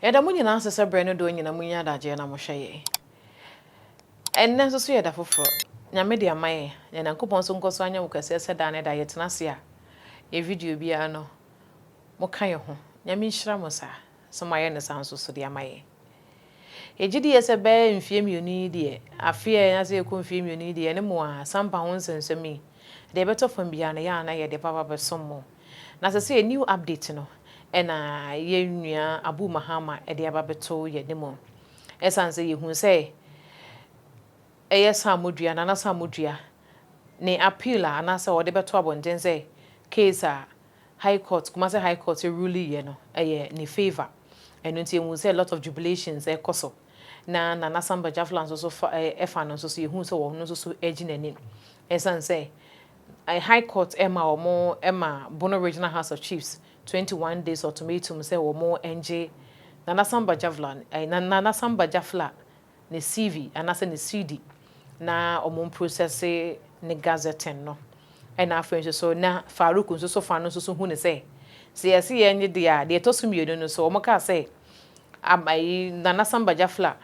Yɛda mo nyinaa ase sɛ berɛ no dɔɔ nyina monya adagyeɛ na mohwɛ yɛn. Ɛnnɛ nso so yɛ da foforɔ. Nyame de ama yɛn. Na Nyankopɔn nso nkɔso anyɛ wo kɛseɛ sɛ daa ne daa yɛtena ase a yɛn video biara no moka yɛn ho. Nyame nhyira mo saa sɛ moayɛ no saa nso so de ama yɛn. Yɛgye di yɛ sɛ bɛyɛ mfeɛ mmienu yi deɛ, afe a yɛn ase rekɔ mfeɛ mmienu yi deɛ, yɛne mo a, sampa ho nsɛmnsɛm yi, deɛ ɛbɛtɔ fam biara no, yɛ a na yɛde bɛba abɛsom mo. Na sɛsɛɛ new update no na yɛn nua Abu Mahama de aba abɛto yɛn anim. Ɛsiane sɛ yɛhunu sɛ ɛyɛ Saamodua, Nana Saamodua, ne appeal a anaasɛ ɔde bɛto abɔnten sɛ case a High Court, Kumasi High Court ruleeɛ no, ɛyɛ ne favour. Ɛno nti yɛhu sɛ a lot of jubilations ɛkɔ so. Na Nana Sam Bajafla nso so fa ɛɛ ɛfa no nso so yɛhu sɛ ɔno nso so ɛregye n'ani. Ɛsan sɛ ɛɛ High Court ɛma wɔn ɛma Bono Regional House of Chiefs twenty one days ultimatum sɛ wɔn ɛngye Nana Sam Bajavla ɛɛ Nana Sam Bajafla ne CV anaasɛ ne CD na wɔmprosɛse ne gazetting no. Ɛna afei nso so na Farouk nso so fa no nso so hu no sɛ, sɛ yɛse yɛnnye deɛ a, deɛ ɛtɔ so mmienu no nso wɔkaa sɛ ab ayi Nana Samba Jafla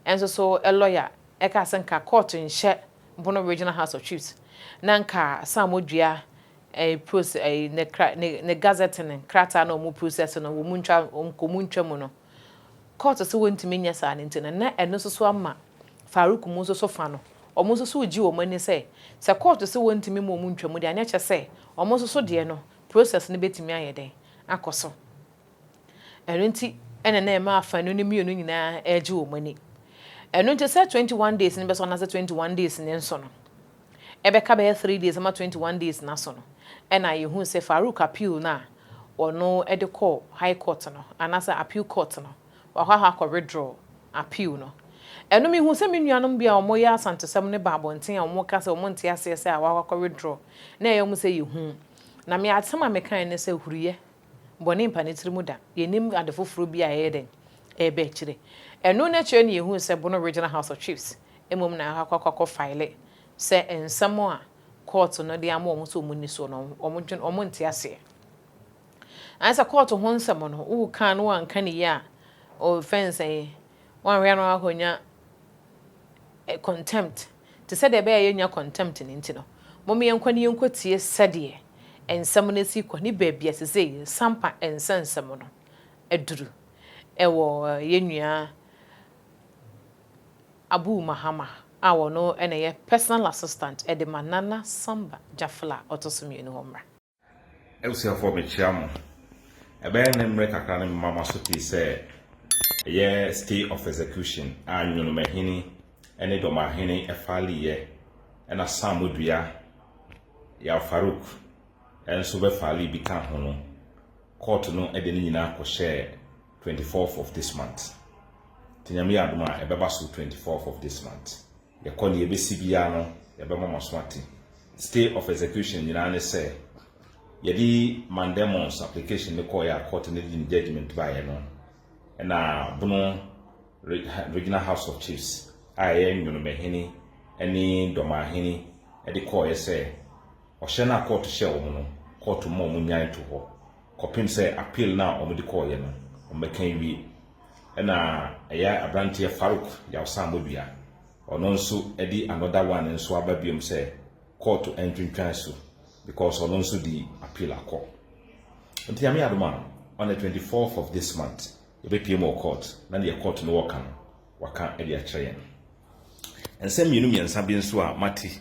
nso so lɔya kaa sɛ nka court nhyɛ Bono Regional House of Chiefs na nka sɛ wɔdua ɛyi pros ɛyi ne kra ne ne gazetting krataa na wɔprosɛse no wɔntwa nka wɔntwa mu no. kɔɔto sɛ wɔntumi nyɛ saa no nti no, na ɛno nso so ama Farouk mu nso so fa no, wɔn nso so regye wɔn ani sɛ, sɛ kɔɔto se wɔntumi mma wɔn ntwa mu deɛ a, na ɛkyɛ sɛ wɔn nso so deɛ no, process no bɛtumi ayɛ dɛn? Akɔ so. Ɛno nti na na ɛma afanu no mmienu nyinaa regye wɔn ani. Ɛno nti sɛ twenty one days no bɛso anaasɛ twenty one days no nso no, ɛbɛka bɛyɛ three days ama twenty one days no aso no, ɛna yɛhuu sɛ Farouk appeal no a wɔno de kɔ high court no anaasɛ appeal court no wakɔ ahɔ akɔ withdraw appeal no ɛno mehu sɛ me nuanom bi a wɔn yɛ asantesɛm no ba abɔnten a wɔn ka sɛ wɔn nte aseɛ sɛ a wakɔ akɔ withdraw na ɛyɛ wɔn sɛ yɛ hu na me asɛm a me kan ne sɛ huriyɛ bɔne mpa ne tiri mu da yɛ nim ade foforɔ bi a ɛyɛ dɛn ɛbɛ akyire ɛno na kyerɛ ne yɛ hu sɛ Bono regional house of chiefs mmom na akɔ akɔ akɔ file sɛ nsɛm a kɔɔto no de ama wɔn sɛ wɔn nni so no, wɔn dwen, wɔn nte aseɛ. Ayɛ sɛ kɔɔto ho nsɛm no, wo kan no wanka ne yie a, o fɛn sɛ yi, wanhwɛ no akɔnya eh, contempt. Te sɛ deɛ ɛbɛyɛ yɛnya contempt no nti no, mom yɛnkɔ ne yɛnkɔ tie sɛdeɛ nsɛm no si kɔ ne baabi a sesei sampa nsa nsɛm no aduru ɛwɔ yɛn nua Abu Mahama a ɔno na ɛyɛ personal assistant de ma Nana Samba Gyafla a ɔto so mmienu hɔ mmra. Abusuafoɔ mekyea mo. Ɛbɛyɛ nnɛ mmerɛ kakra na mema moaso pii sɛ ɛyɛ stay of execution a Nyonomahini ne Dɔmahene faliiɛ ɛna Saamodua Yaw Farouk nso bɛfalii bi ka ho no, kɔɔto no de ne nyinaa kɔhyɛɛ twenty fourth of this month nti nyame yɛ adom a ɛbɛba so twenty fourth of this month yɛkɔ ne yɛbɛsi biara no yɛbɛma mo aso ate stay of execution nyinaa ne sɛ yɛde mandemons application ne kɔɔ yɛ akɔte ne de ne judgment baeɛ no ɛna bono regional house of chiefs a ɛyɛ nwonomahene ne dɔmahene de kɔɔeɛ sɛ ɔhyɛ no a kɔɔto hyɛ wɔn no kɔɔto ma wɔn nyan to hɔ kɔpem sɛ appeal no a wɔde kɔɔeɛ no wɔbɛka awie. Ɛna ɛyɛ abranteɛ Farouk Yawsamodua, ɔno nso de another one nso aba biom sɛ kɔɔto ntwentwan so because ɔno nso de appeal akɔ. Nti Nyame adom a on the 24th of this month yɛbɛpiem wɔ court na deɛ court no wɔka no waka de akyerɛ yɛn. Nsɛm mmienu mmiɛnsa bi nso a mate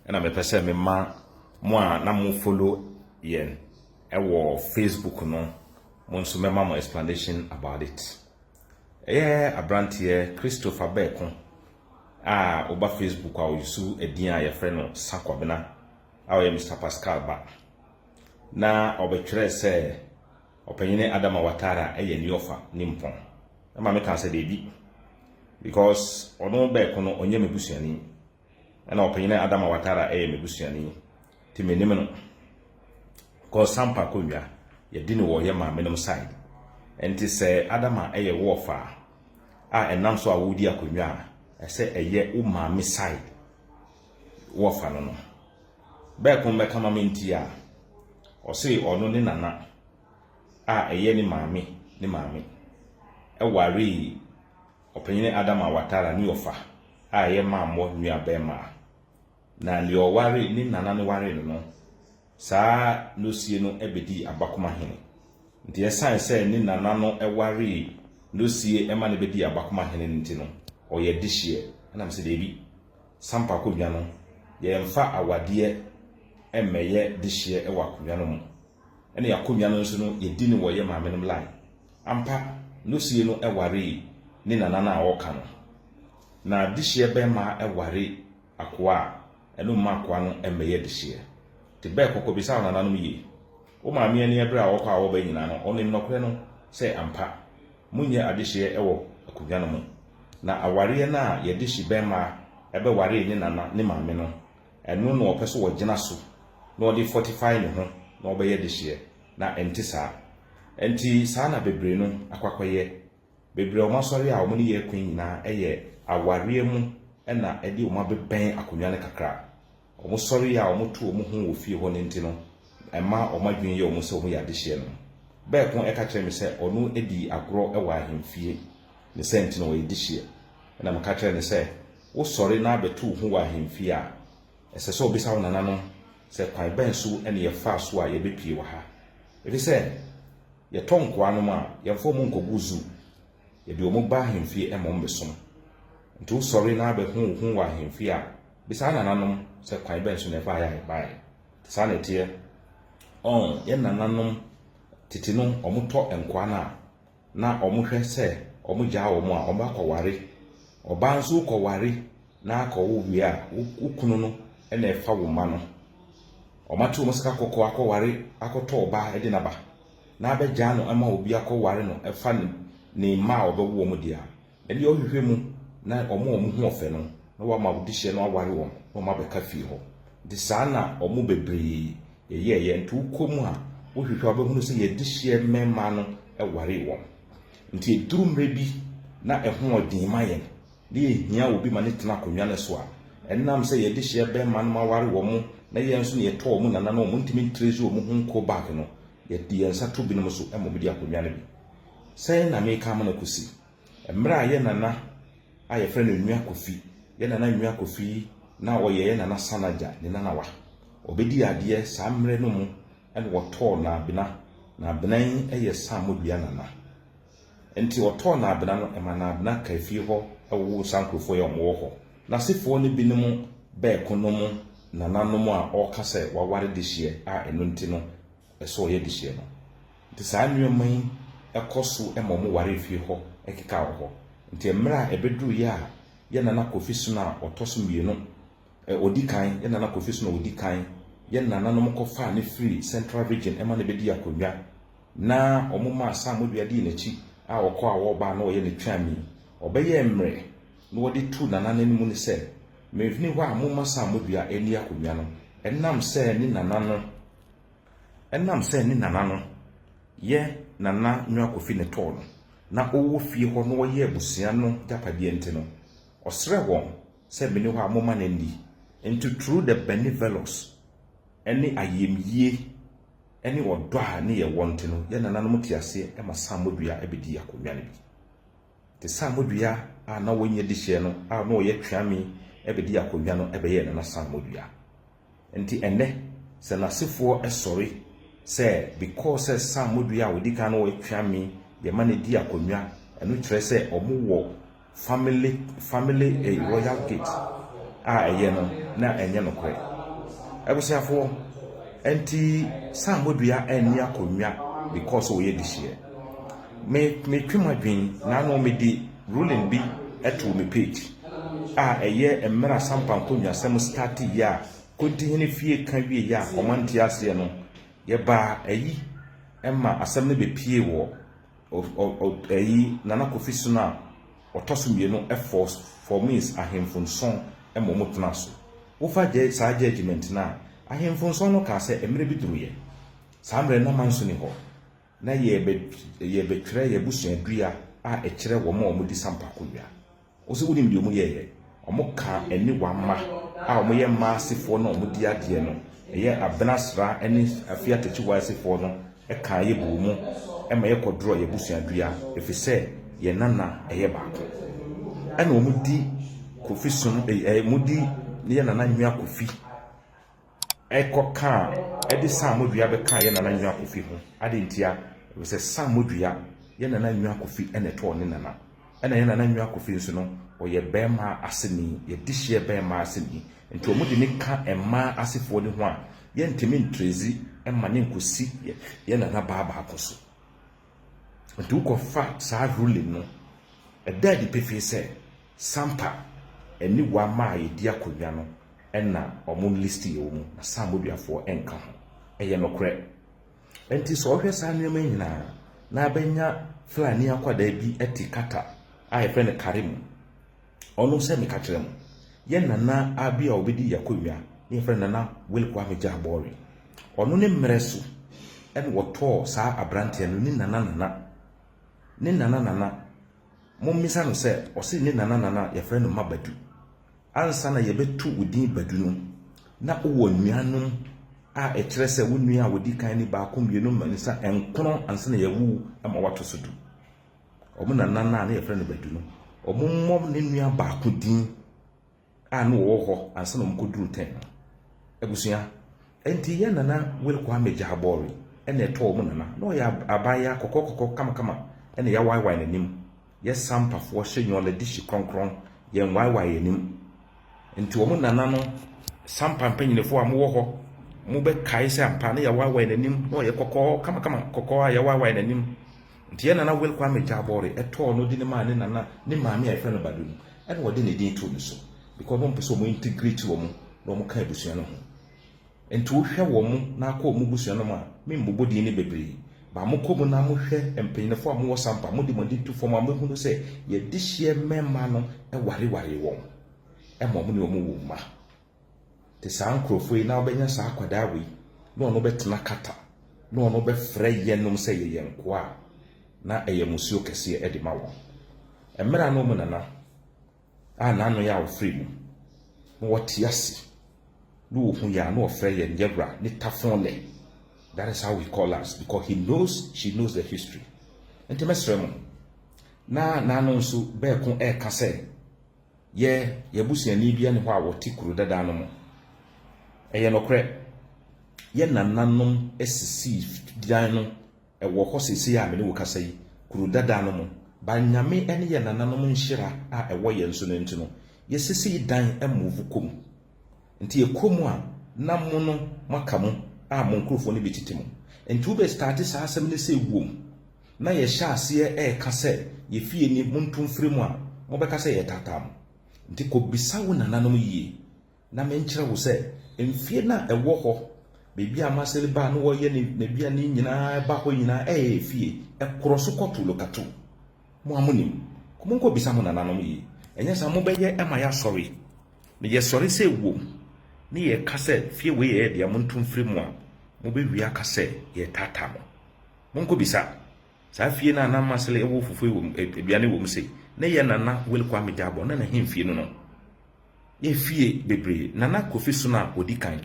na mepɛ sɛ mema mo a na mo follow yɛn Ɛwɔ Facebook no mo nso mɛma mo explanation about it. Ɛyɛ abranteɛ Christopher Bɛɛko a woba Facebook a ɔyusu ɛdin a yɛfrɛ no Sakwabena a ɔyɛ Mr Pascal ba na ɔbɛtwerɛ sɛ ɔpanyini Adama Watara ɛyɛ ni ɔfa ni mpɔn ɛma me kaa sɛ deebi because ɔno Bɛɛko no ɔnyɛ me busuani Ɛna ɔpanyin a Adama Watara ɛyɛ me busuani ti me nim no kɔ Sampa kɔ wia yɛdi ne wɔ yɛ maame nom side ɛnti sɛ Adama ɛyɛ wɔ fa a ɛnam so a wodi akonwa a ɛsɛ ɛyɛ wo maame side wɔ fa no no bɛɛ ko mbɛka ma me nti a ɔse ɔno ne nana a ɛyɛ ne maame ne maame ɛware Ɔpanyin Adama Watara ne ɔfa a ɛyɛ mammɔ nuabarimaa. Na nea ɔwaree ne nana no waree no no, saa Nosie no bedii Abakoma hene. Nti ɛsan sɛ ne nana no waree Nosie ma no bedii Abakoma hene no nti no, ɔyɛ dehyeɛ. Ɛna mese daabi, Sampa Akodwa no, yɛmfa awadeɛ mmɛyɛ dehyeɛ wɔ Akodwa no mu. Ɛna yɛn akonnwa no nso no yɛdi no wɔ yɛn maamenom line. Ampa, Nosie no waree ne nana no a ɔreka no. Na dehyeɛ bɛmma ware akoa a, ɛno mma akoa no mmɛyɛ dehyeɛ. Te bɛɛ kɔkɔ bisa wo nananom yie. Wo maame ani ɛberɛ a ɔkɔ a ɔba nyinaa no, ɔnim nɔkorɛ no sɛ ampa, monyɛ adehyeɛ wɔ akonnwa no ho. Na awareɛ no a yɛdehye bɛmma bɛwaree ne nana ne maame no, Ɛno na ɔpɛ sɛ ɔgyina so na ɔde fortify ne ho na ɔbɛyɛ dehyeɛ, na ɛnte saa. Ɛnti saa na bebree no akɔ akɔyɛ. Bebree a wɔn asɔre a wɔn ne yɛ ko yi nyinaa ɛyɛ awareɛ mu na ɛde wɔn abɛbɛn akonnwa no kakra. Wɔn sɔre yɛ a wɔto wɔn ho wɔ fie hɔ no nti no, ɛma wɔn adwene yɛ wɔn sɛ wɔyɛ adehyeɛ no. Bɛɛ ko ɛka kyerɛɛ me sɛ ɔno dii agorɔ wɔ ahemfie, ne sɛ nti na ɔyɛ dehyeɛ. Ɛna meka kyerɛɛ no sɛ Wosɔre na bɛto wo ho wɔ ahemfie a, ɛsɛ sɛ wobisa wo nananom sɛ, 'Kwan bɛn so na yɛfaa so a yɛbɛpue wɔ ha? Efisɛ yɛtɔ nkoa nom a, yɛmfa wɔn nkɔgu zoo. Yɛde wɔn ba ahemfie ma wɔbɛsom. Enti wosɔre na bɛho wo ho wɔ ahemfie a, bisa wo nananom sɛ, 'Kwan bɛn so na ɛbaeɛ a yɛbaeɛ? Saa na ɛteɛ. Ɔn, yɛn nananom tete no, wɔtɔ nkoa no a, na wɔhwɛ sɛ wɔgyaa wɔn a, wɔakɔware. Ɔbaa nso wokɔware na akɔwo wie a, wo kunu no na ɛfa wo mma no. Wɔate wɔn sika kɔkɔɔ akɔware akɔtɔ ɔbaa de n'aba na abɛgyaa no ma obi akɔware no ɛfa ne mma a ɔbɛwo wɔn deɛ a, Ɛnde ɔhwehwɛ mu na wɔn a wɔn ho ɔfɛ no na wama wo dehyeɛ no aware wɔn na wɔn abɛka fie hɔ. Nti saa na wɔn bebree yɛyɛɛyɛ. Nti wokɔ mu a wohwehwɛ a wobɛhunu sɛ yɛn dehyeɛ mmɛmmaa no waree wɔn. Nti ɛduru mmerɛ bi na ɛho ɔden ma yɛn na yɛhia obi ma no tena akonnwa no so a, ɛnam sɛ yɛn dehyeɛ bɛmma nom aware wɔn na yɛn nso na yɛtɔ wɔn nananom a wɔntumi ntresi wɔn ho nkɔ back no, yɛde yɛn nsa to binom so ma wɔde akonnwa no bi. Sɛn na meka amena kosi? Mmerɛ a yɛ nana a yɛfrɛ no Nua Kofi, yɛ nana Nua Kofi na ɔyɛ yɛ nana Sanagya ne nanawa. Ɔbɛdii adeɛ saa mmerɛ no mu na wɔtɔɔ Naabena. Naabena yi yɛ Saamodua nana. Nti ɔtɔɔ Naabena no ɛma Naabena kaa fie hɔ wowoo saa nkurofoɔ yi a wɔwɔ hɔ. N'asefoɔ no binom bɛɛko nom nananom a ɔɔka sɛ waware dehyeɛ a ɛno nti no, ɛsɛ ɔyɛ de hyɛ no. Nti saa nnoɔma yi kɔ so ma ɔmo ware efie hɔ keka wɔ hɔ. Nti mmerɛ a ɛbɛduru yɛ a yɛ Nana Kofi Sona a ɔtɔ so mmienu, ɛ, ɔdi kan, yɛ Nana Kofi Sona a ɔdi kan, yɛ Nana nom kɔ faa no firii Central Region ma no bɛdii akonnwa, na ɔmo maa Sam Modua dii n'akyi a ɔkɔ a ɔɔba a na ɔyɛ ne tweani. Ɔbɛyɛɛ mmerɛ na ɔde tuu Nana no anim no sɛ, Menfini hɔ a momma Sam Modua nni akonnwa no, ɛnam sɛ ne Nana no ɛnam sɛ ne nana no yɛ Nana Nua Kofi Netɔɔ no na ɔwɔ fie hɔ na wɔyɛ abusua no gyapadeɛ nti no, ɔsrɛɛ wɔn sɛ meni hɔ a momma no nni. Nti through the benevolous ne ayɛmyie ne ɔdɔ a ne yɛwɔ nti no, yɛn nananom te aseɛ ma Saamodua bɛdii akonnwa no bi. Nti Saamodua a na ɔnyɛ dihyeɛ no a na ɔyɛ Tweami bɛdii akonnwa no bɛyɛɛ Nana Saamodua. Nti ɛnnɛ sɛ nasefoɔ sɔre sɛ because sɛ Sam Modui a ɔdi kan no wɔ Tweame deɛ ma no di akonnwa ɛno kyerɛ sɛ ɔmo wɔ family family eh, royal gate a ɛyɛ no na ɛnyɛ nokorɛ abusuafoɔ Nti Sam Modua ɛnni akonnwa because ɔyɛ dehyeɛ Me metwe m'adwen na ano medi Ruling bi too me page a ɛyɛ mmerɛ Asampa nkonnwasɛm startee yɛ a Kontihene fie ka wie yɛ a wɔn ante aseɛ no yɛ baa ayi ma asɛm no bɛ pie wɔ ayi Nana Kofi sono a ɔtɔ so mmienu force formees ahenfo nson ma wɔn tena so wo fa gyɛ saa judgement no a ahenfo nson no kaa sɛ mmerɛ bi duru yɛ saa mmerɛ no na manso ni hɔ. na yɛrebɛtwerɛ yɛn abusuadua a ɛkyerɛ wɔn a wɔdi sampa konnwa. Wo nso wonim deɛ wɔyɛeɛ? Wɔkaa ɛne wɔn mma a wɔyɛ mmaa asefoɔ no a wɔdi adeɛ no, ɛyɛ Abena Sra ne Afie Atakyiwa asefoɔ no kaa yɛ buu mu ma yɛkɔdorɔɔ yɛn abusuadua ɛfiri sɛ yɛn nana yɛ baako. Ɛna wɔdi Kofi Sono, wɔdi yɛn nana Nua Kofi kɔ kaa de Saamodua bɛkaa yɛn nana Nwa Kofi ho. Adɛn ntia? Efisɛ Saamodua, yɛn nana Nwa Kofi na ɛtɔɔ ne nana. Ɛna yɛn nana Nwa Kofi nso no, ɔyɛ bɛmma aseni, yɛdehyeɛ bɛmma aseni. Nti wɔde ne ka mmaa asefoɔ no ho a, yɛntumi ntrɛzi ma no nkɔsi yɛn nana baa baako so. Enti wokɔfa saa ruling no, ɛda adi pefee sɛ Sampa ne Wamma a yɛdi akonnwa no na wɔn list yɛ wɔn, na Sam Boduafoɔ nka ho. Ɛyɛ nokorɛ. Enti sɛ wohwɛ saa nneɛma nyinaa na abɛnya Fulani akwadaa bi te Qatar a yɛfrɛ no Karim, Ɔno sɛ meka kyerɛ mo, yɛn nana a bi a ɔbɛdi yɛ akonnwa ne yɛfrɛ no Nana Will Kwame Jah Bawry. Ɔno ne mmerɛ so ɛna wɔtɔɔ saa aberanteɛ no ne Nana Nana. Ne Nana Nana, mommisa no sɛ ɔse ne Nana Nana yɛfrɛ no Ma Badu. Ansa na yɛbɛto wo din Badu no, na wowɔ nuanom a ɛkyerɛ sɛ wo nua a ɔdi kan ni, baako, mmienu, mmiɛnsa, nkron ansa na yɛawo wo ma woato so du. wɔn nana no a na wɔfrɛ no Badu no, wɔmmɔ ne nua baako din a na wɔwɔ hɔ ansa na wɔkɔduru tɛn no. Abusua, ɛnti yɛn nana Will Kwame Gyabɔre ɛna ɛtɔɔ wɔn nana. Na ɔyɛ abaayewa kɔkɔkɔkɔ kamakama ɛna yɛawaaewaae n'anim. Yɛ Sampafoɔ hyɛ Nyɔla Dihyi Krɔnkrɔn, yɛnwaaewaae yɛn anim. Nti wɔn nana no, Sampa mpanyinfoɔ a mowɔ hɔ, mobɛkae sɛ ampa na yɛawaaewaae n'anim, na ɔyɛ kɔkɔɔ kamakama, kɔkɔɔ a yɛawaaewaae n'anim. Nti yɛn nana Will Kwame Gyabɔre ɛtɔɔ no de no maa ne nana ne maame a yɛfrɛ no Badu no ɛna wɔde ne din too no so because na wɔn pɛ sɛ wɔn integrate wɔn na wɔn ka abusua no ho nti wo hwɛ wɔn na akɔ wɔn busua no mu a me mbobɔ din no bebree ba mo kɔ mu na mo hwɛ mpanyinfoɔ a mo wɔ sampa mo de mo ani to fam a mo hunu sɛ yɛ dehyeɛ mmɛɛma no ɛware waree wɔn ɛma wɔn ne wɔn wɔ mma. te saa nkurɔfoɔ yi na wobɛnya saa akwadaa wei na ɔno bɛtena kata na ɔno bɛfrɛ yɛnom sɛ yɛyɛ nkoa a na ɛyɛ musuo kɛseɛ de ma wɔn mmerɛ no mu nana a n'ano yɛ a wɔfrɛ mu na wɔte ase na wɔhu yɛ a na wɔfrɛ yɛn yɛwura ne tafon lɛ that is how he call us because he knows she knows the history nti mɛsrɛ mo na n'ano nso bɛɛko ɛɛka sɛ Yɛ, yɛn abusuani biara nni hɔ a ɔte kuro dada no mu. Ɛyɛ nokorɛ. Yɛn nananom sisii dan no, ɛwɔ hɔ seesei a me ne wo kasa yi, kuro dada no mu. By Nyame ne yɛn nananom nhyira a ɛwɔ yɛn so no nti no, yɛsisii dan move kɔ mu. Nti yɛkɔ mu a, na mo no moaka mu a mo nkorɔfoɔ no bi tete mu. Nti wobɛ starte saa asɛm no sɛ wom. na yɛhyɛ aseɛ reka sɛ yɛ fie ni monto mfiri mu a, mobɛka sɛ yɛretaataa mo. Nti kɔbisa wo nananom yie na menkyerɛ wo sɛ mfie no a ɛwɔ hɔ baabi a Marcel baa na ɔyɛ n'aduane nyinaa ba hɔ nyinaa ɛyɛ yɛ fie. Ɛkorɔ so kɔto lokato. Mo a monim, monkɔbisa mo nananom yie. Ɛnyɛ saa mobɛyɛ ma yɛasɔre na yɛsɔre sɛ wom na yɛka sɛ fie wei yɛ yɛ dea monto mfiri mu a, mobɛwie aka sɛ yɛretaataa mo. Monkɔbisa saa fie no a na Masele wɔ fufuo wɔ mu, ɛ, aduane wɔ mu se, ne yɛ Nana Willy Kwame Gyabɔ na n'ahemfie no no. Ne afie bebree. Nana Kofi so no a ɔdi kan.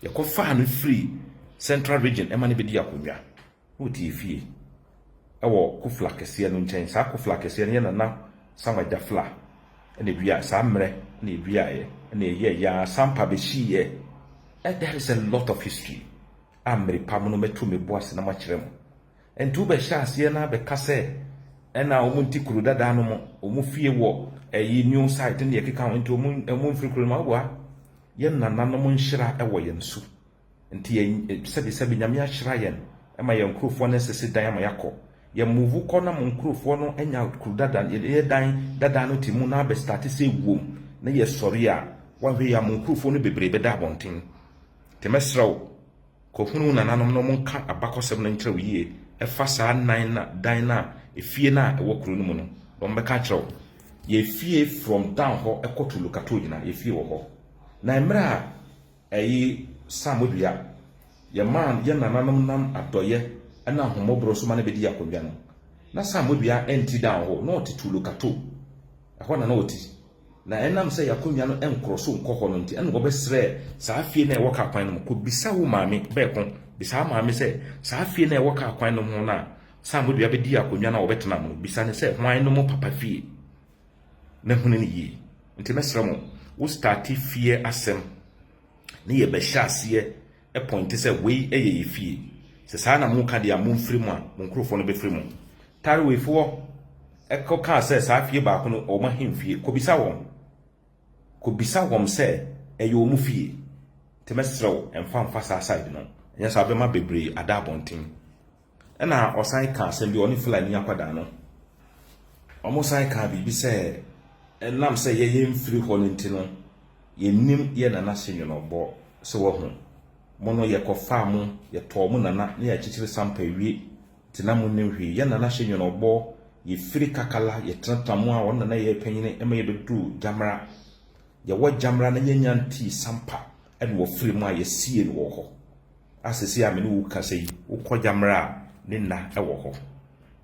Yɛkɔfaa no firi Central Region ɛma no bɛdii akonnwa. Na ɔte efie wɔ Kofla kɛseɛ no nkyɛn. Saa Kofla kɛseɛ no yɛ Nana Samuel Gyafla na ɛduaeɛ. Saa mmerɛ na ɛduaeɛ na ɛyɛɛyɛ ara sampa bɛhyiiɛ. That is a lot of history. a merepam no mɛto me bo ase na makyerɛ mo. Ɛnti wobɛhyɛ aseɛ na abɛka sɛ ɛna wɔn nti kuro dada no mo, wɔn fie wɔ ɛyi new site ne yɛkeka ho nti wɔn wɔn mfiri kuro no mu awa. Yɛn nananom nhyira ɛwɔ yɛn so. Nti yɛn sɛbi sɛbi nyame ahyira yɛn ɛma yɛn nkurofoɔ no asisi dan ama yɛakɔ. Yɛn move kɔ na mo nkurofoɔ no anya kuro dada yɛ dan dada no ti mu na abɛstarte sɛ ɛwuom na yɛsɔre a wɔanhwɛ yɛ a mo nkurofoɔ no bebree bɛda abɔnten. Nti mɛsrɛ wo, kɔhunu wo nananom na wɔnka abakɔsɛm no nkyerɛ wo yie ɛfa saa nan na dan no a efie no a ɛwɔ kuro no mu no na wɔbɛka akyerɛ wo. Yɛfie from down hɔ ɛkɔ to Lukato nyinaa yɛfie wɔ hɔ. Na mmerɛ a ɛyi Sam dua yɛmaa no yɛn nananom nam adɔyɛ ɛna ahomɔborɔ so ma no bɛdii akonnwa no na Sam dua ɛnti down hɔ na ɔte to Lukato ɛhɔ na na ɔte. Na ɛnam sɛ y'akonnwa no nkoro so nkɔ hɔ no nti, ɛna wɔbɛsrɛ saa fie no a ɛwɔ kaa kwan no ho, Kɔbisa wo maame, Bɛɛko, bisa wo maame sɛ, saa fie no a ɛwɔ kaa kwan no ho no a Saamodua bɛdii akonnwa no a wɔbɛtena mu no, bisa no sɛ hwan no mo papa fie? Na hunu no yie. Nti mɛsrɛ mo, wo starte fie asɛm na yɛbɛhyɛ aseɛ pɔinte sɛ wei yɛ yɛ fie. Sɛ saa na moka deɛ a, momfiri mu a, mo nkurɔfoɔ no bɛfiri mu. Tarewefoɔ kɔkaa sɛ saa fie baako no, wɔn ahemfie. Kɔbisa wɔn. Kɔbisa wɔn sɛ ɛyɛ wɔn fie. Nti mɛsrɛ wo, mfa mfa saa side no. Ɛnyɛ saa a, wobɛma bebree ada abɔnten. Ɛna ɔsan kaa asɛm bi, ɔne Fulani akwadaa no, wɔsan kaa biribi sɛ ɛnam sɛ yɛ yɛmfiri hɔ no nti no, yɛnnim yɛ nana se nwenɔbɔ sɛ wahu mo no, yɛkɔfaa mo, yɛtɔɔ mo nana ne akyikyiri sampa wie nti na monnim hwee. Yɛ nana se nwenɔbɔ, yɛfiri Kakala, yɛtenatena mu a wɔn na na ɛyɛ panyini ma yɛbɛduruu Gyamra. Yɛwɔ Gyamra na yɛnnya ntii sampa ɛna wɔfiri mu a yɛsiee no wɔ hɔ. a seesei a me ne wo rekasa yi, wokɔ Gyammerɛ a, ne nna wɔ hɔ.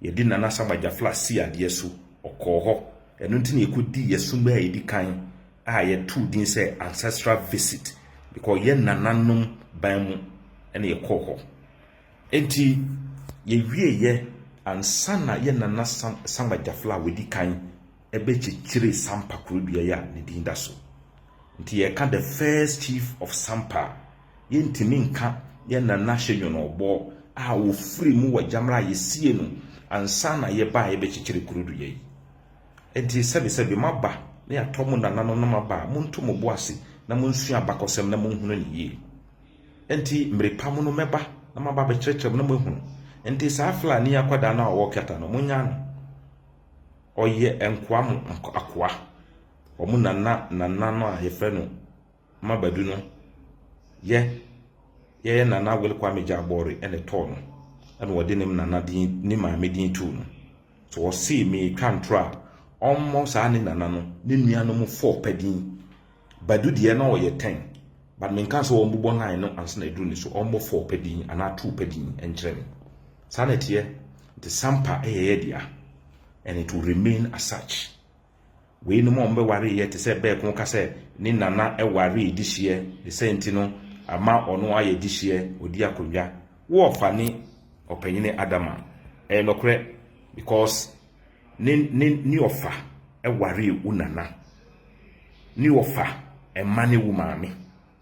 Yɛde Nana Saba Gyafla sii adeɛ so, ɔkɔɔ hɔ. Ɛno nti na yɛkɔdii yɛn som a ɛdi kan a yɛtoo din sɛ Ancestral Visit. Mekɔyɛ nananom ban mu na yɛkɔɔ hɔ. Enti yɛwieeɛ ansa na yɛn Nana Saba Gyafla a wadi kan bɛkyekyeree Sampa kuro dua yi a ne din da so. Nti yɛreka the first chief of Sampa Yɛntumi nka yɛn nana hyɛ Nyɔnɔbɔ a wɔfiri mu wɔ Gyamra a yɛsiee no ansa na yɛbaeɛ bɛkyekyere kuro dua yi. Enti sɛbesɛbe moaba na yɛatɔ mo nananom na moaba a, monto mo bo ase na monsua abakɔsɛm na monhunu no yie. Enti mmere pa mu no mɛba na maba abɛkyerɛkyerɛ mo na moahunu. Enti saa Flani akwadaa no a ɔwɔ Kɛta no, monyaa no. Ɔyɛ nkoa mo akoa. Wɔn nana nana no a yɛfrɛ no ma Badu no yɛ yɛyɛ Nana Will Kwame Gyabɔre na ɛtɔɔ no ɛna ɔde ne nana din ne maame din too no so ɔsee meetwa ntoro a ɔmmɔ saa ne nana no ne nua no mu fɔɔ pɛ din Badu deɛ na ɔyɛ tɛn but menka sɛ ɔmbobɔ line no ansa na ɛduru ne so ɔmmɔ fɔɔ pɛ din anaa too pɛ din ɛnkyerɛ me saa na ɛteɛ nti sampa ɛyɛ yɛ dea and it will remain as such. Weinom a wɔbɛwaree yɛ te sɛ bɛɛko ka sɛ ne na na ɛwaree di hyeɛ, ne sɛ nti no ama ɔno ayɛ di hyeɛ, ɔdi akonnwa. Wo ɔfa ne ɔpanyini Adama. Ɛyɛ nɔkorɛ because ne ne ne ɔfa ɛwaree wo nana. Ne ɔfa ɛma ne wo maame.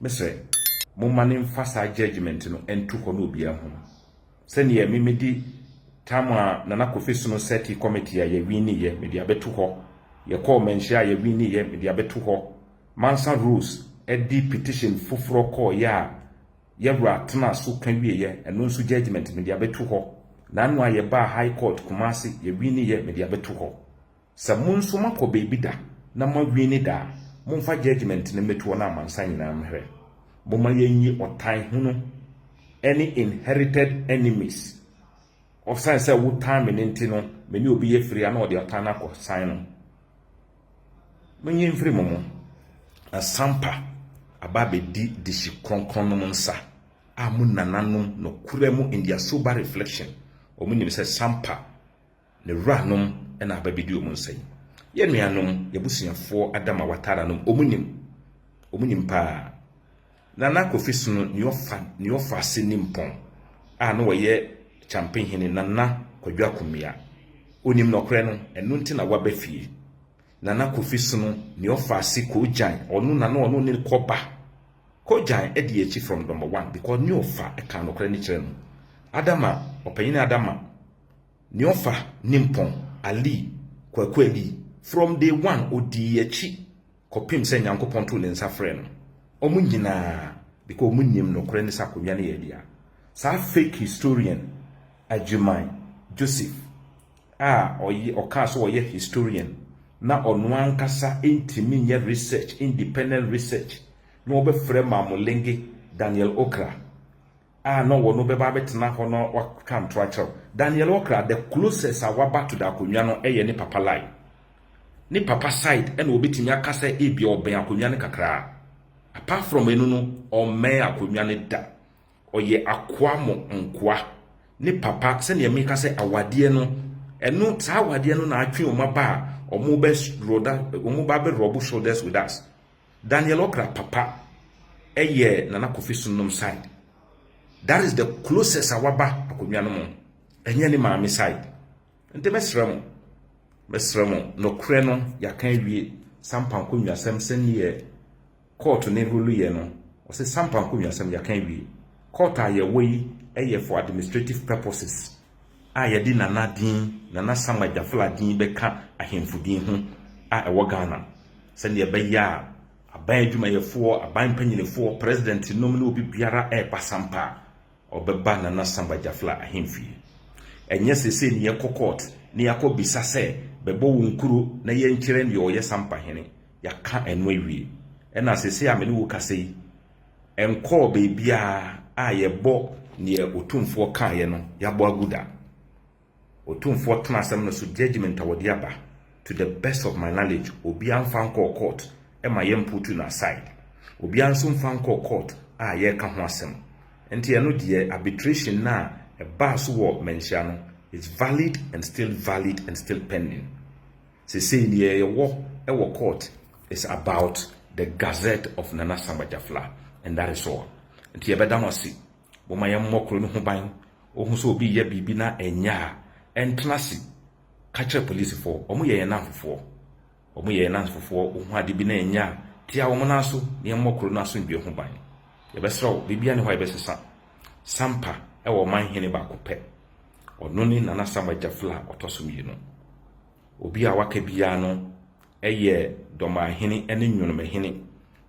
Me sɛ, Momma no mfa saa judgement no nto hɔ na obiara hu. Sɛdeɛ me medi tam a Nana Kofi sono Seti committee a yɛwiniiɛ, mede abɛto hɔ. Yɛkɔɔ manhyia a yɛwiniiɛ, mede abɛto hɔ. Mansa Rose de petition foforɔ kɔeɛ a Yawura tenaa so ka wieɛ, ɛno nso judgement, mede abɛto hɔ. Nano a yɛbaa High Court Kumasi, yɛwiniiɛ, mede abɛto hɔ. Sɛ mo nso moakɔ baabi da na moawini da a, momfa judgement no mmɛtu wɔn a amansan nyinaa mmrɛ. Momma yɛnyi ɔtan hunu ne inherited enemies. Ɔsiane sɛ wotan me no nti no, me ne obi yɛ firi a na ɔde ɔtan no akɔsan no. Monyi mfiri mo mu. Asampa aba abɛdi dehye kronkron nom nsa a mo nananom nokora mu in their sober reflection wɔn nim sɛ sampa Ne wuranom na aba bedi wɔn nsa yi. Yɛn nuanom, y'abusuafoɔ Adam a watara nom, wɔn nim. Wɔn nim paa. Nana Kofi sono nea ɔfa nea ɔfa ase nimpɔn a na ɔyɛ Kyampe hene Nana Kwadwo Akomea. Onim nɔkorɛ no, ɛno nti na waba fie. Nana Kofi sono nea ɔfa ase Koogyan, ɔno na na ɔno ne kɔ ba. Koogyan adi akyi from number one because nea ɔfa ɛka nɔkorɛ no kyerɛ no. Adama, ɔpanyini Adama. Neofa Nimpong Ali, Kwaku Ali, from day one ɔdii akyi kɔpem sɛ Nyankopɔn too ne nsa frɛɛ no. Ɔmo nyinaa, because ɔmo nnim nokorɛ ne sɛ akonnwa no yɛ dea. Saa fake historian Agyemang Joseph a ɔyɛ ɔkaa sɛ ɔyɛ historian na ɔno ankasa ntumi nyɛ research, independent research, na ɔbɛfrɛ Mamolenge Daniel Okra a na ɔwɔ no bɛba abɛtena hɔ na watwa nto akyerɛ wo. Daniel Okra, the closest a waba to the akonnwa no yɛ ne papa line. Ne papa side na wɔbɛtumi aka sɛ ebia ɔbɛn akonnwa no kakraa. Apart from ɛno no, ɔmmɛn akonnwa no da. Ɔyɛ akoa mo nkoa. Ne papa, sɛdeɛ meka sɛ awadeɛ no, ɛno, saa awadeɛ no na atwe wɔn aba a wɔba abɛrɔbo shoulders with us. Daniel Okra papa yɛ Nana Kofi Sunnum side. That is the closest a waba akonnwa no mu. Ɛnyɛ ne maame side. Nti mɛsrɛ mo, mɛsrɛ mo, nokorɛ no yɛaka awie Sampa nkonnwasɛm sɛdeɛ court ne rule yɛ no. Wɔse Sampa nkonnwasɛm yɛaka awie. Court a yɛwɔ yi yɛ for administrative purposes. a yɛde Nana din, Nana Sam Agyafla din bɛka ahemfo din ho a ɛwɔ Ghana sɛdeɛ ɛbɛyɛ a aban adwumayɛfoɔ, aban mpanyinifoɔ, president nom ne obi biara ɛreba sampa a ɔbɛba Nana Sam Agyafla ahemfie. Ɛnyɛ sese ne yɛkɔ court ne yɛakɔ bisa sɛ bɛbɔ wo nkuro na yɛnkyerɛ deɛ ɔyɛ sampa hene. Yɛaka ɛno awie. Ɛna sese a me ne wo kasa yi, ɛnkɔɔ baabiara a yɛbɔ deɛ Otumfoɔ kaeɛ no yɛabɔ agu da. Otumfoɔ tena asɛm no so judgement a wɔde aba to the best of my knowledge obiara mfa nkɔɔ court ma yɛmputu no aside. Obiara nso mfa nkɔɔ court a yɛreka ho asɛm. Nti ɛno deɛ arbitration no a ɛbaa so wɔ Manhyia no is valid and still valid and still pending. Sesei deɛ yɛwɔ wɔ court is about the gazette of Nana Samba Jafla and that is all. Nti yɛbɛda mo ase. Momma yɛmmɔ kuro no ho ban. Wohu sɛ obi reyɛ biribi na ɛnyɛ a, ɛntena ase. Ka kyerɛ polisifoɔ. Wɔyɛ yɛn nnamfofoɔ. Wɔyɛ yɛn nnamfofoɔ. Wohu ade bi na ɛnyɛ a, tia wɔn nan so na yɛmmɔ kuro no asomdwoeɛ ho ban. Yɛbɛsrɛ wo, biribiara nni hɔ a yɛbɛsesa. Sampa wɔ ɔman hene baako pɛ. Ɔno ne Nana Sam Agyaflo a ɔtɔ so mmienu. Obi a waka biara no yɛ Dɔmanhene ne Nwonomahene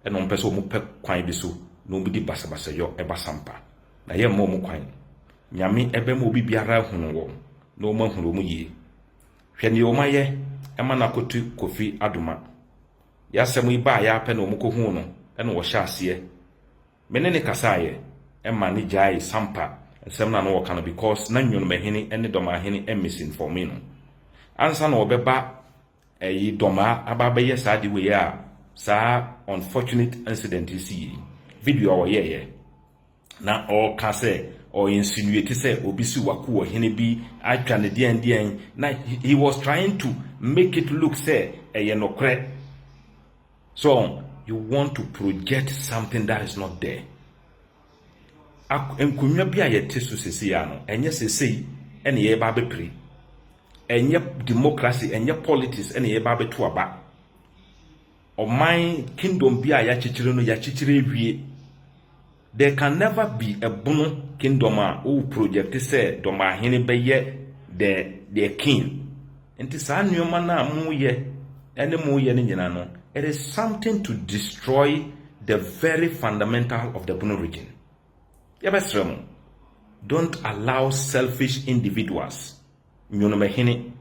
na wɔpɛ sɛ wɔpɛ kwan bi so na wɔdi basabasayɔ ba sampa. Na yɛmma wɔn kwan. Nyame bɛma obi biara ahunu wɔn na wɔn ahunu wɔn yie. Hwɛ nea wɔn ayɛ ma no akoto Kofi Adoma. Yɛ asɛm yi baeɛ ara pɛ na wɔkɔhuu no na wɔhyɛ aseɛ Me ne no kasaeɛ ma no gyaee Sampa nsɛm no a na ɔreka no because na Nyonomahene ne Dɔmahene misinforme no. Ansa na ɔbɛba ɛyi Dɔma aba abɛyɛ saa ade wei a saa unfortunate incident yi siiɛ yi, video a ɔyɛeɛ na ɔreka sɛ ɔ insinuate sɛ obi siw ako wɔ hene bi atwa no deɛn deɛn na he was trying to make it look sɛ ɛyɛ nokorɛ. So you want to project something that is not there? Ak nkonnwa bi a yɛte so sesei a no, ɛnyɛ sesei ɛna yɛreba abɛpire. Ɛnyɛ democracy, ɛnyɛ politics ɛna yɛreba abɛto aba. Ɔman kingdom bi a yɛakyekyere no, yɛakyekyere awie. There can never be a bono kingdom a wo project sɛ dɔmahene bɛyɛ the their king. Nti saa nnoɔma no a mo yɛ ne mo yɛ no nyina no it is something to destroy the very fundamental of the bono region. Yɛbɛsrɛ mo don't allow selfish individuals nyonomahene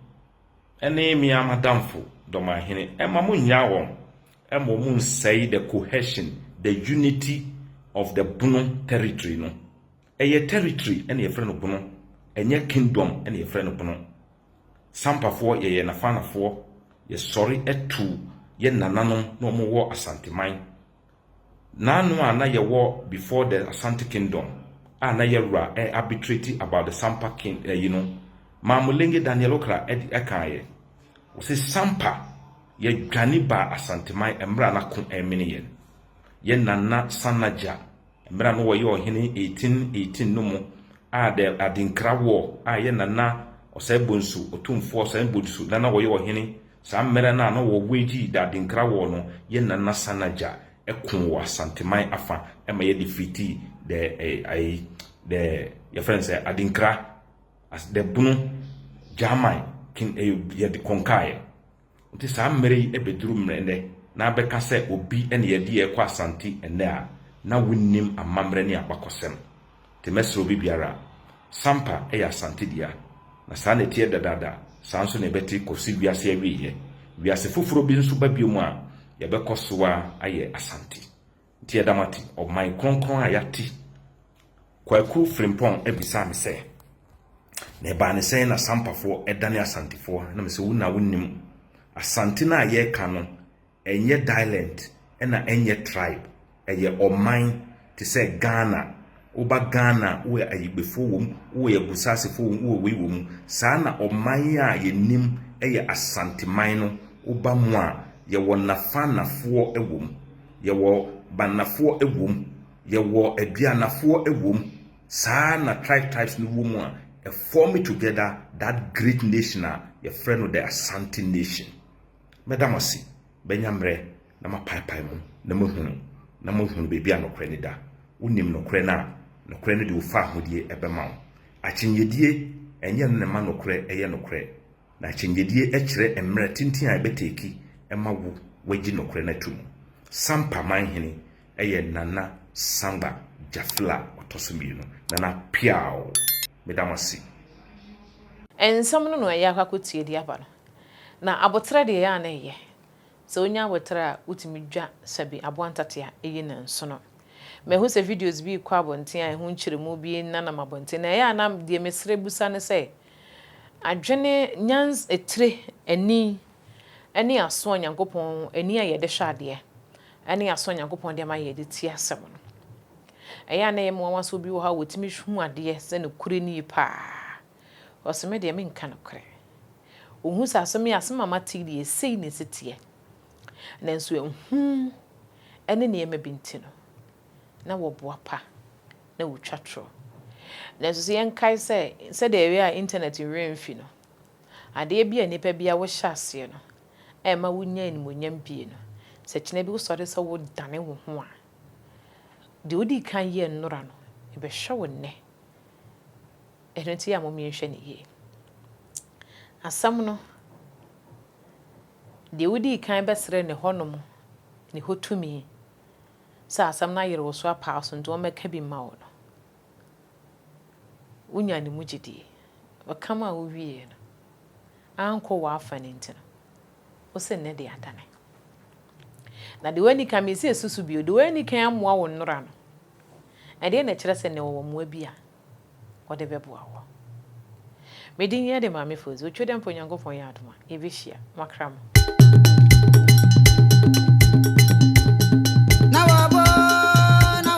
ne mea madamfo dɔmahene ɛmma mo nnyaa wɔn Ɛma ɔmo nsɛe the cohesion, the unity of the Bono territory no. Ɛyɛ territory na yɛfrɛ no Bono, ɛnyɛ kingdom na yɛfrɛ no Bono. Sampafoɔ yɛyɛ Nafanafoɔ, yɛsɔre tu yɛ nananom na ɔmo wɔ Asanteman. Naano a na yɛwɔ before the Asante kingdom a na yɛwura ɛ arbitrate about the Sampa king ɛyi no, Maamulenge Daniel Okra ɛde ɛkaayɛ. Ɔse Sampa Yɛdwane baa Asanteman mmerɛ a na ko remene yɛn. Yɛn Nana Sanna Gya, mmerɛ a na ɔyɛ ɔhene 1818 no mu a the Adinkra War a yɛn Nana Ɔsɛebonsu, Otumfoɔ Ɔsɛebonsu na na ɔyɛ ɔhene saa mmerɛ no a na wɔwage the Adinkra War no, yɛn Nana Sanna Gya koo wɔ Asanteman afa ma yɛ defeatii the ayi the yɛfrɛ no sɛ Adinkra as the Bunu Gyaman king yɛde conquer yɛ. Nti saa mmerɛ yi bɛduru mmerɛ nnɛ na abɛka sɛ obi na yɛde yɛn rekɔ Asante nnɛ a na wonnim amammerɛ ne abakɔsɛm. Nti mɛsrɛ obi biara, Sampa yɛ Asante dea, na saa na ɛteɛ dadaada, saa nso na ɛbɛte kɔsi wiase awieɛ. Wiase foforɔ bi nso ba biom a, yɛbɛkɔ soa ayɛ Asante. Nti ɛda mo ate, ɔman kronkron a yɛate. Kwaku Frimpong bisaa me sɛ, Na ɛbaa no sɛn na Sampafoɔ dane Asantefoɔ? Na mese, Wo na wonim. Asante no a yɛreka no, ɛnyɛ dialent na ɛnyɛ tribe. Ɛyɛ ɔman te sɛ Ghana. Woba Ghana wowɔ Ayigbefoɔ wɔ mu, wowɔ yɛ Agusasefoɔ wɔ mu, wowɔ wei wɔ mu. Saa na ɔman yi a yɛnim yɛ Asanteman no, woba mu a, yɛwɔ Nafanafoɔ wɔ mu, yɛwɔ Banafoɔ wɔ mu, yɛwɔ Aduanafoɔ wɔ mu. Saa na tribes tribes no wɔ mu a, ɛ form together that great nation a yɛfrɛ no the Asante nation. Mɛda mo ase, mɛnya mmerɛ na mapaepae mo na moahunu, na moahunu baabi a nokorɛ no da. Wonim nokorɛ no a, nokorɛ no de wo fahodie ɛbɛma wo. Akyinnyedie, ɛnyɛ ɛno na ɛma nokorɛ ɛyɛ nokorɛ. Na akyinnyedie ɛkyerɛ mmerɛ tenten a ɛbɛteki ɛma wo wagyi nokorɛ no atum. Sampa manhene ɛyɛ Nana Sangba Gyafil a ɔtɔ so mmienu. Nana Peaw, meda mo ase. Nsɛm no na ɛyɛ akɔ akɔtie de aba no. Na aboterɛ deɛ ɛyɛ a na ɛyɛ. Sɛ wonya aboterɛ a wotumi dwa sɛbi aboa ntate a ɛyi ne nsono. Mahu sɛ videos bi rekɔ abɔnten a ɛho nkyerɛmu bi nenam abɔnten na ɛyɛ a na deɛ mesrɛ bisa ne sɛ adwene, nyans, tire, ani ne aso a Nyankopɔn, ani a yɛde hwɛ adeɛ ne aso a Nyankopɔn de ama yɛn de tie asɛm no. Ɛyɛ a na ɛyɛ me nwanwa sɛ obi wɔ hɔ a ɔtumi hu adeɛ sɛ nokorɛ nie paa. Ɔse me deɛ menka nokorɛ. Wohu sɛ asɛm yi asɛm a mate yi deɛ sei na ɛsi teɛ. Nanso ehu ne nneɛma bi nti no, na wɔboapa na wɔtwa torɔ. Nanso sɛ yɛnkae sɛ, sɛdeɛ ɛyɛ a intanɛt werɛ mfi no, adeɛ bi a nnipa bi a wohyɛ aseɛ no ɛmma wonya animuonyam pii no, sɛ kyena bi wosɔre sɛ wodane wo ho a, deɛ wodii kan yɛɛ nnora no, ɛbɛhwɛ wo nnɛ. Ɛno nti a momienhwɛ no yie. Asɛm no, deɛ wodii kan bɛsrɛɛ ne hɔnom ne hɔ tumi sɛ asɛm no ayere wo so apa wo so nti wɔmmɛka bi mma wo no, wonyaa ne mu gyedie. Ɔka maa wowieeɛ no, ankɔ w'afa no nti no, wo se nnɛ deɛ adane. Na deɛ woanni kan, mese susu bio, deɛ woanni kan ammoa wo nnora no, ɛdeɛ na ɛkyerɛ sɛ nnɛ wɔwɔ mmoa bi a Ɔde bɛboa wo. Me din yɛ de Maame Fozu. Otwa dɛ mpo Nyankopɔn yɛ adom a, yɛbɛhyia. Moakra mo.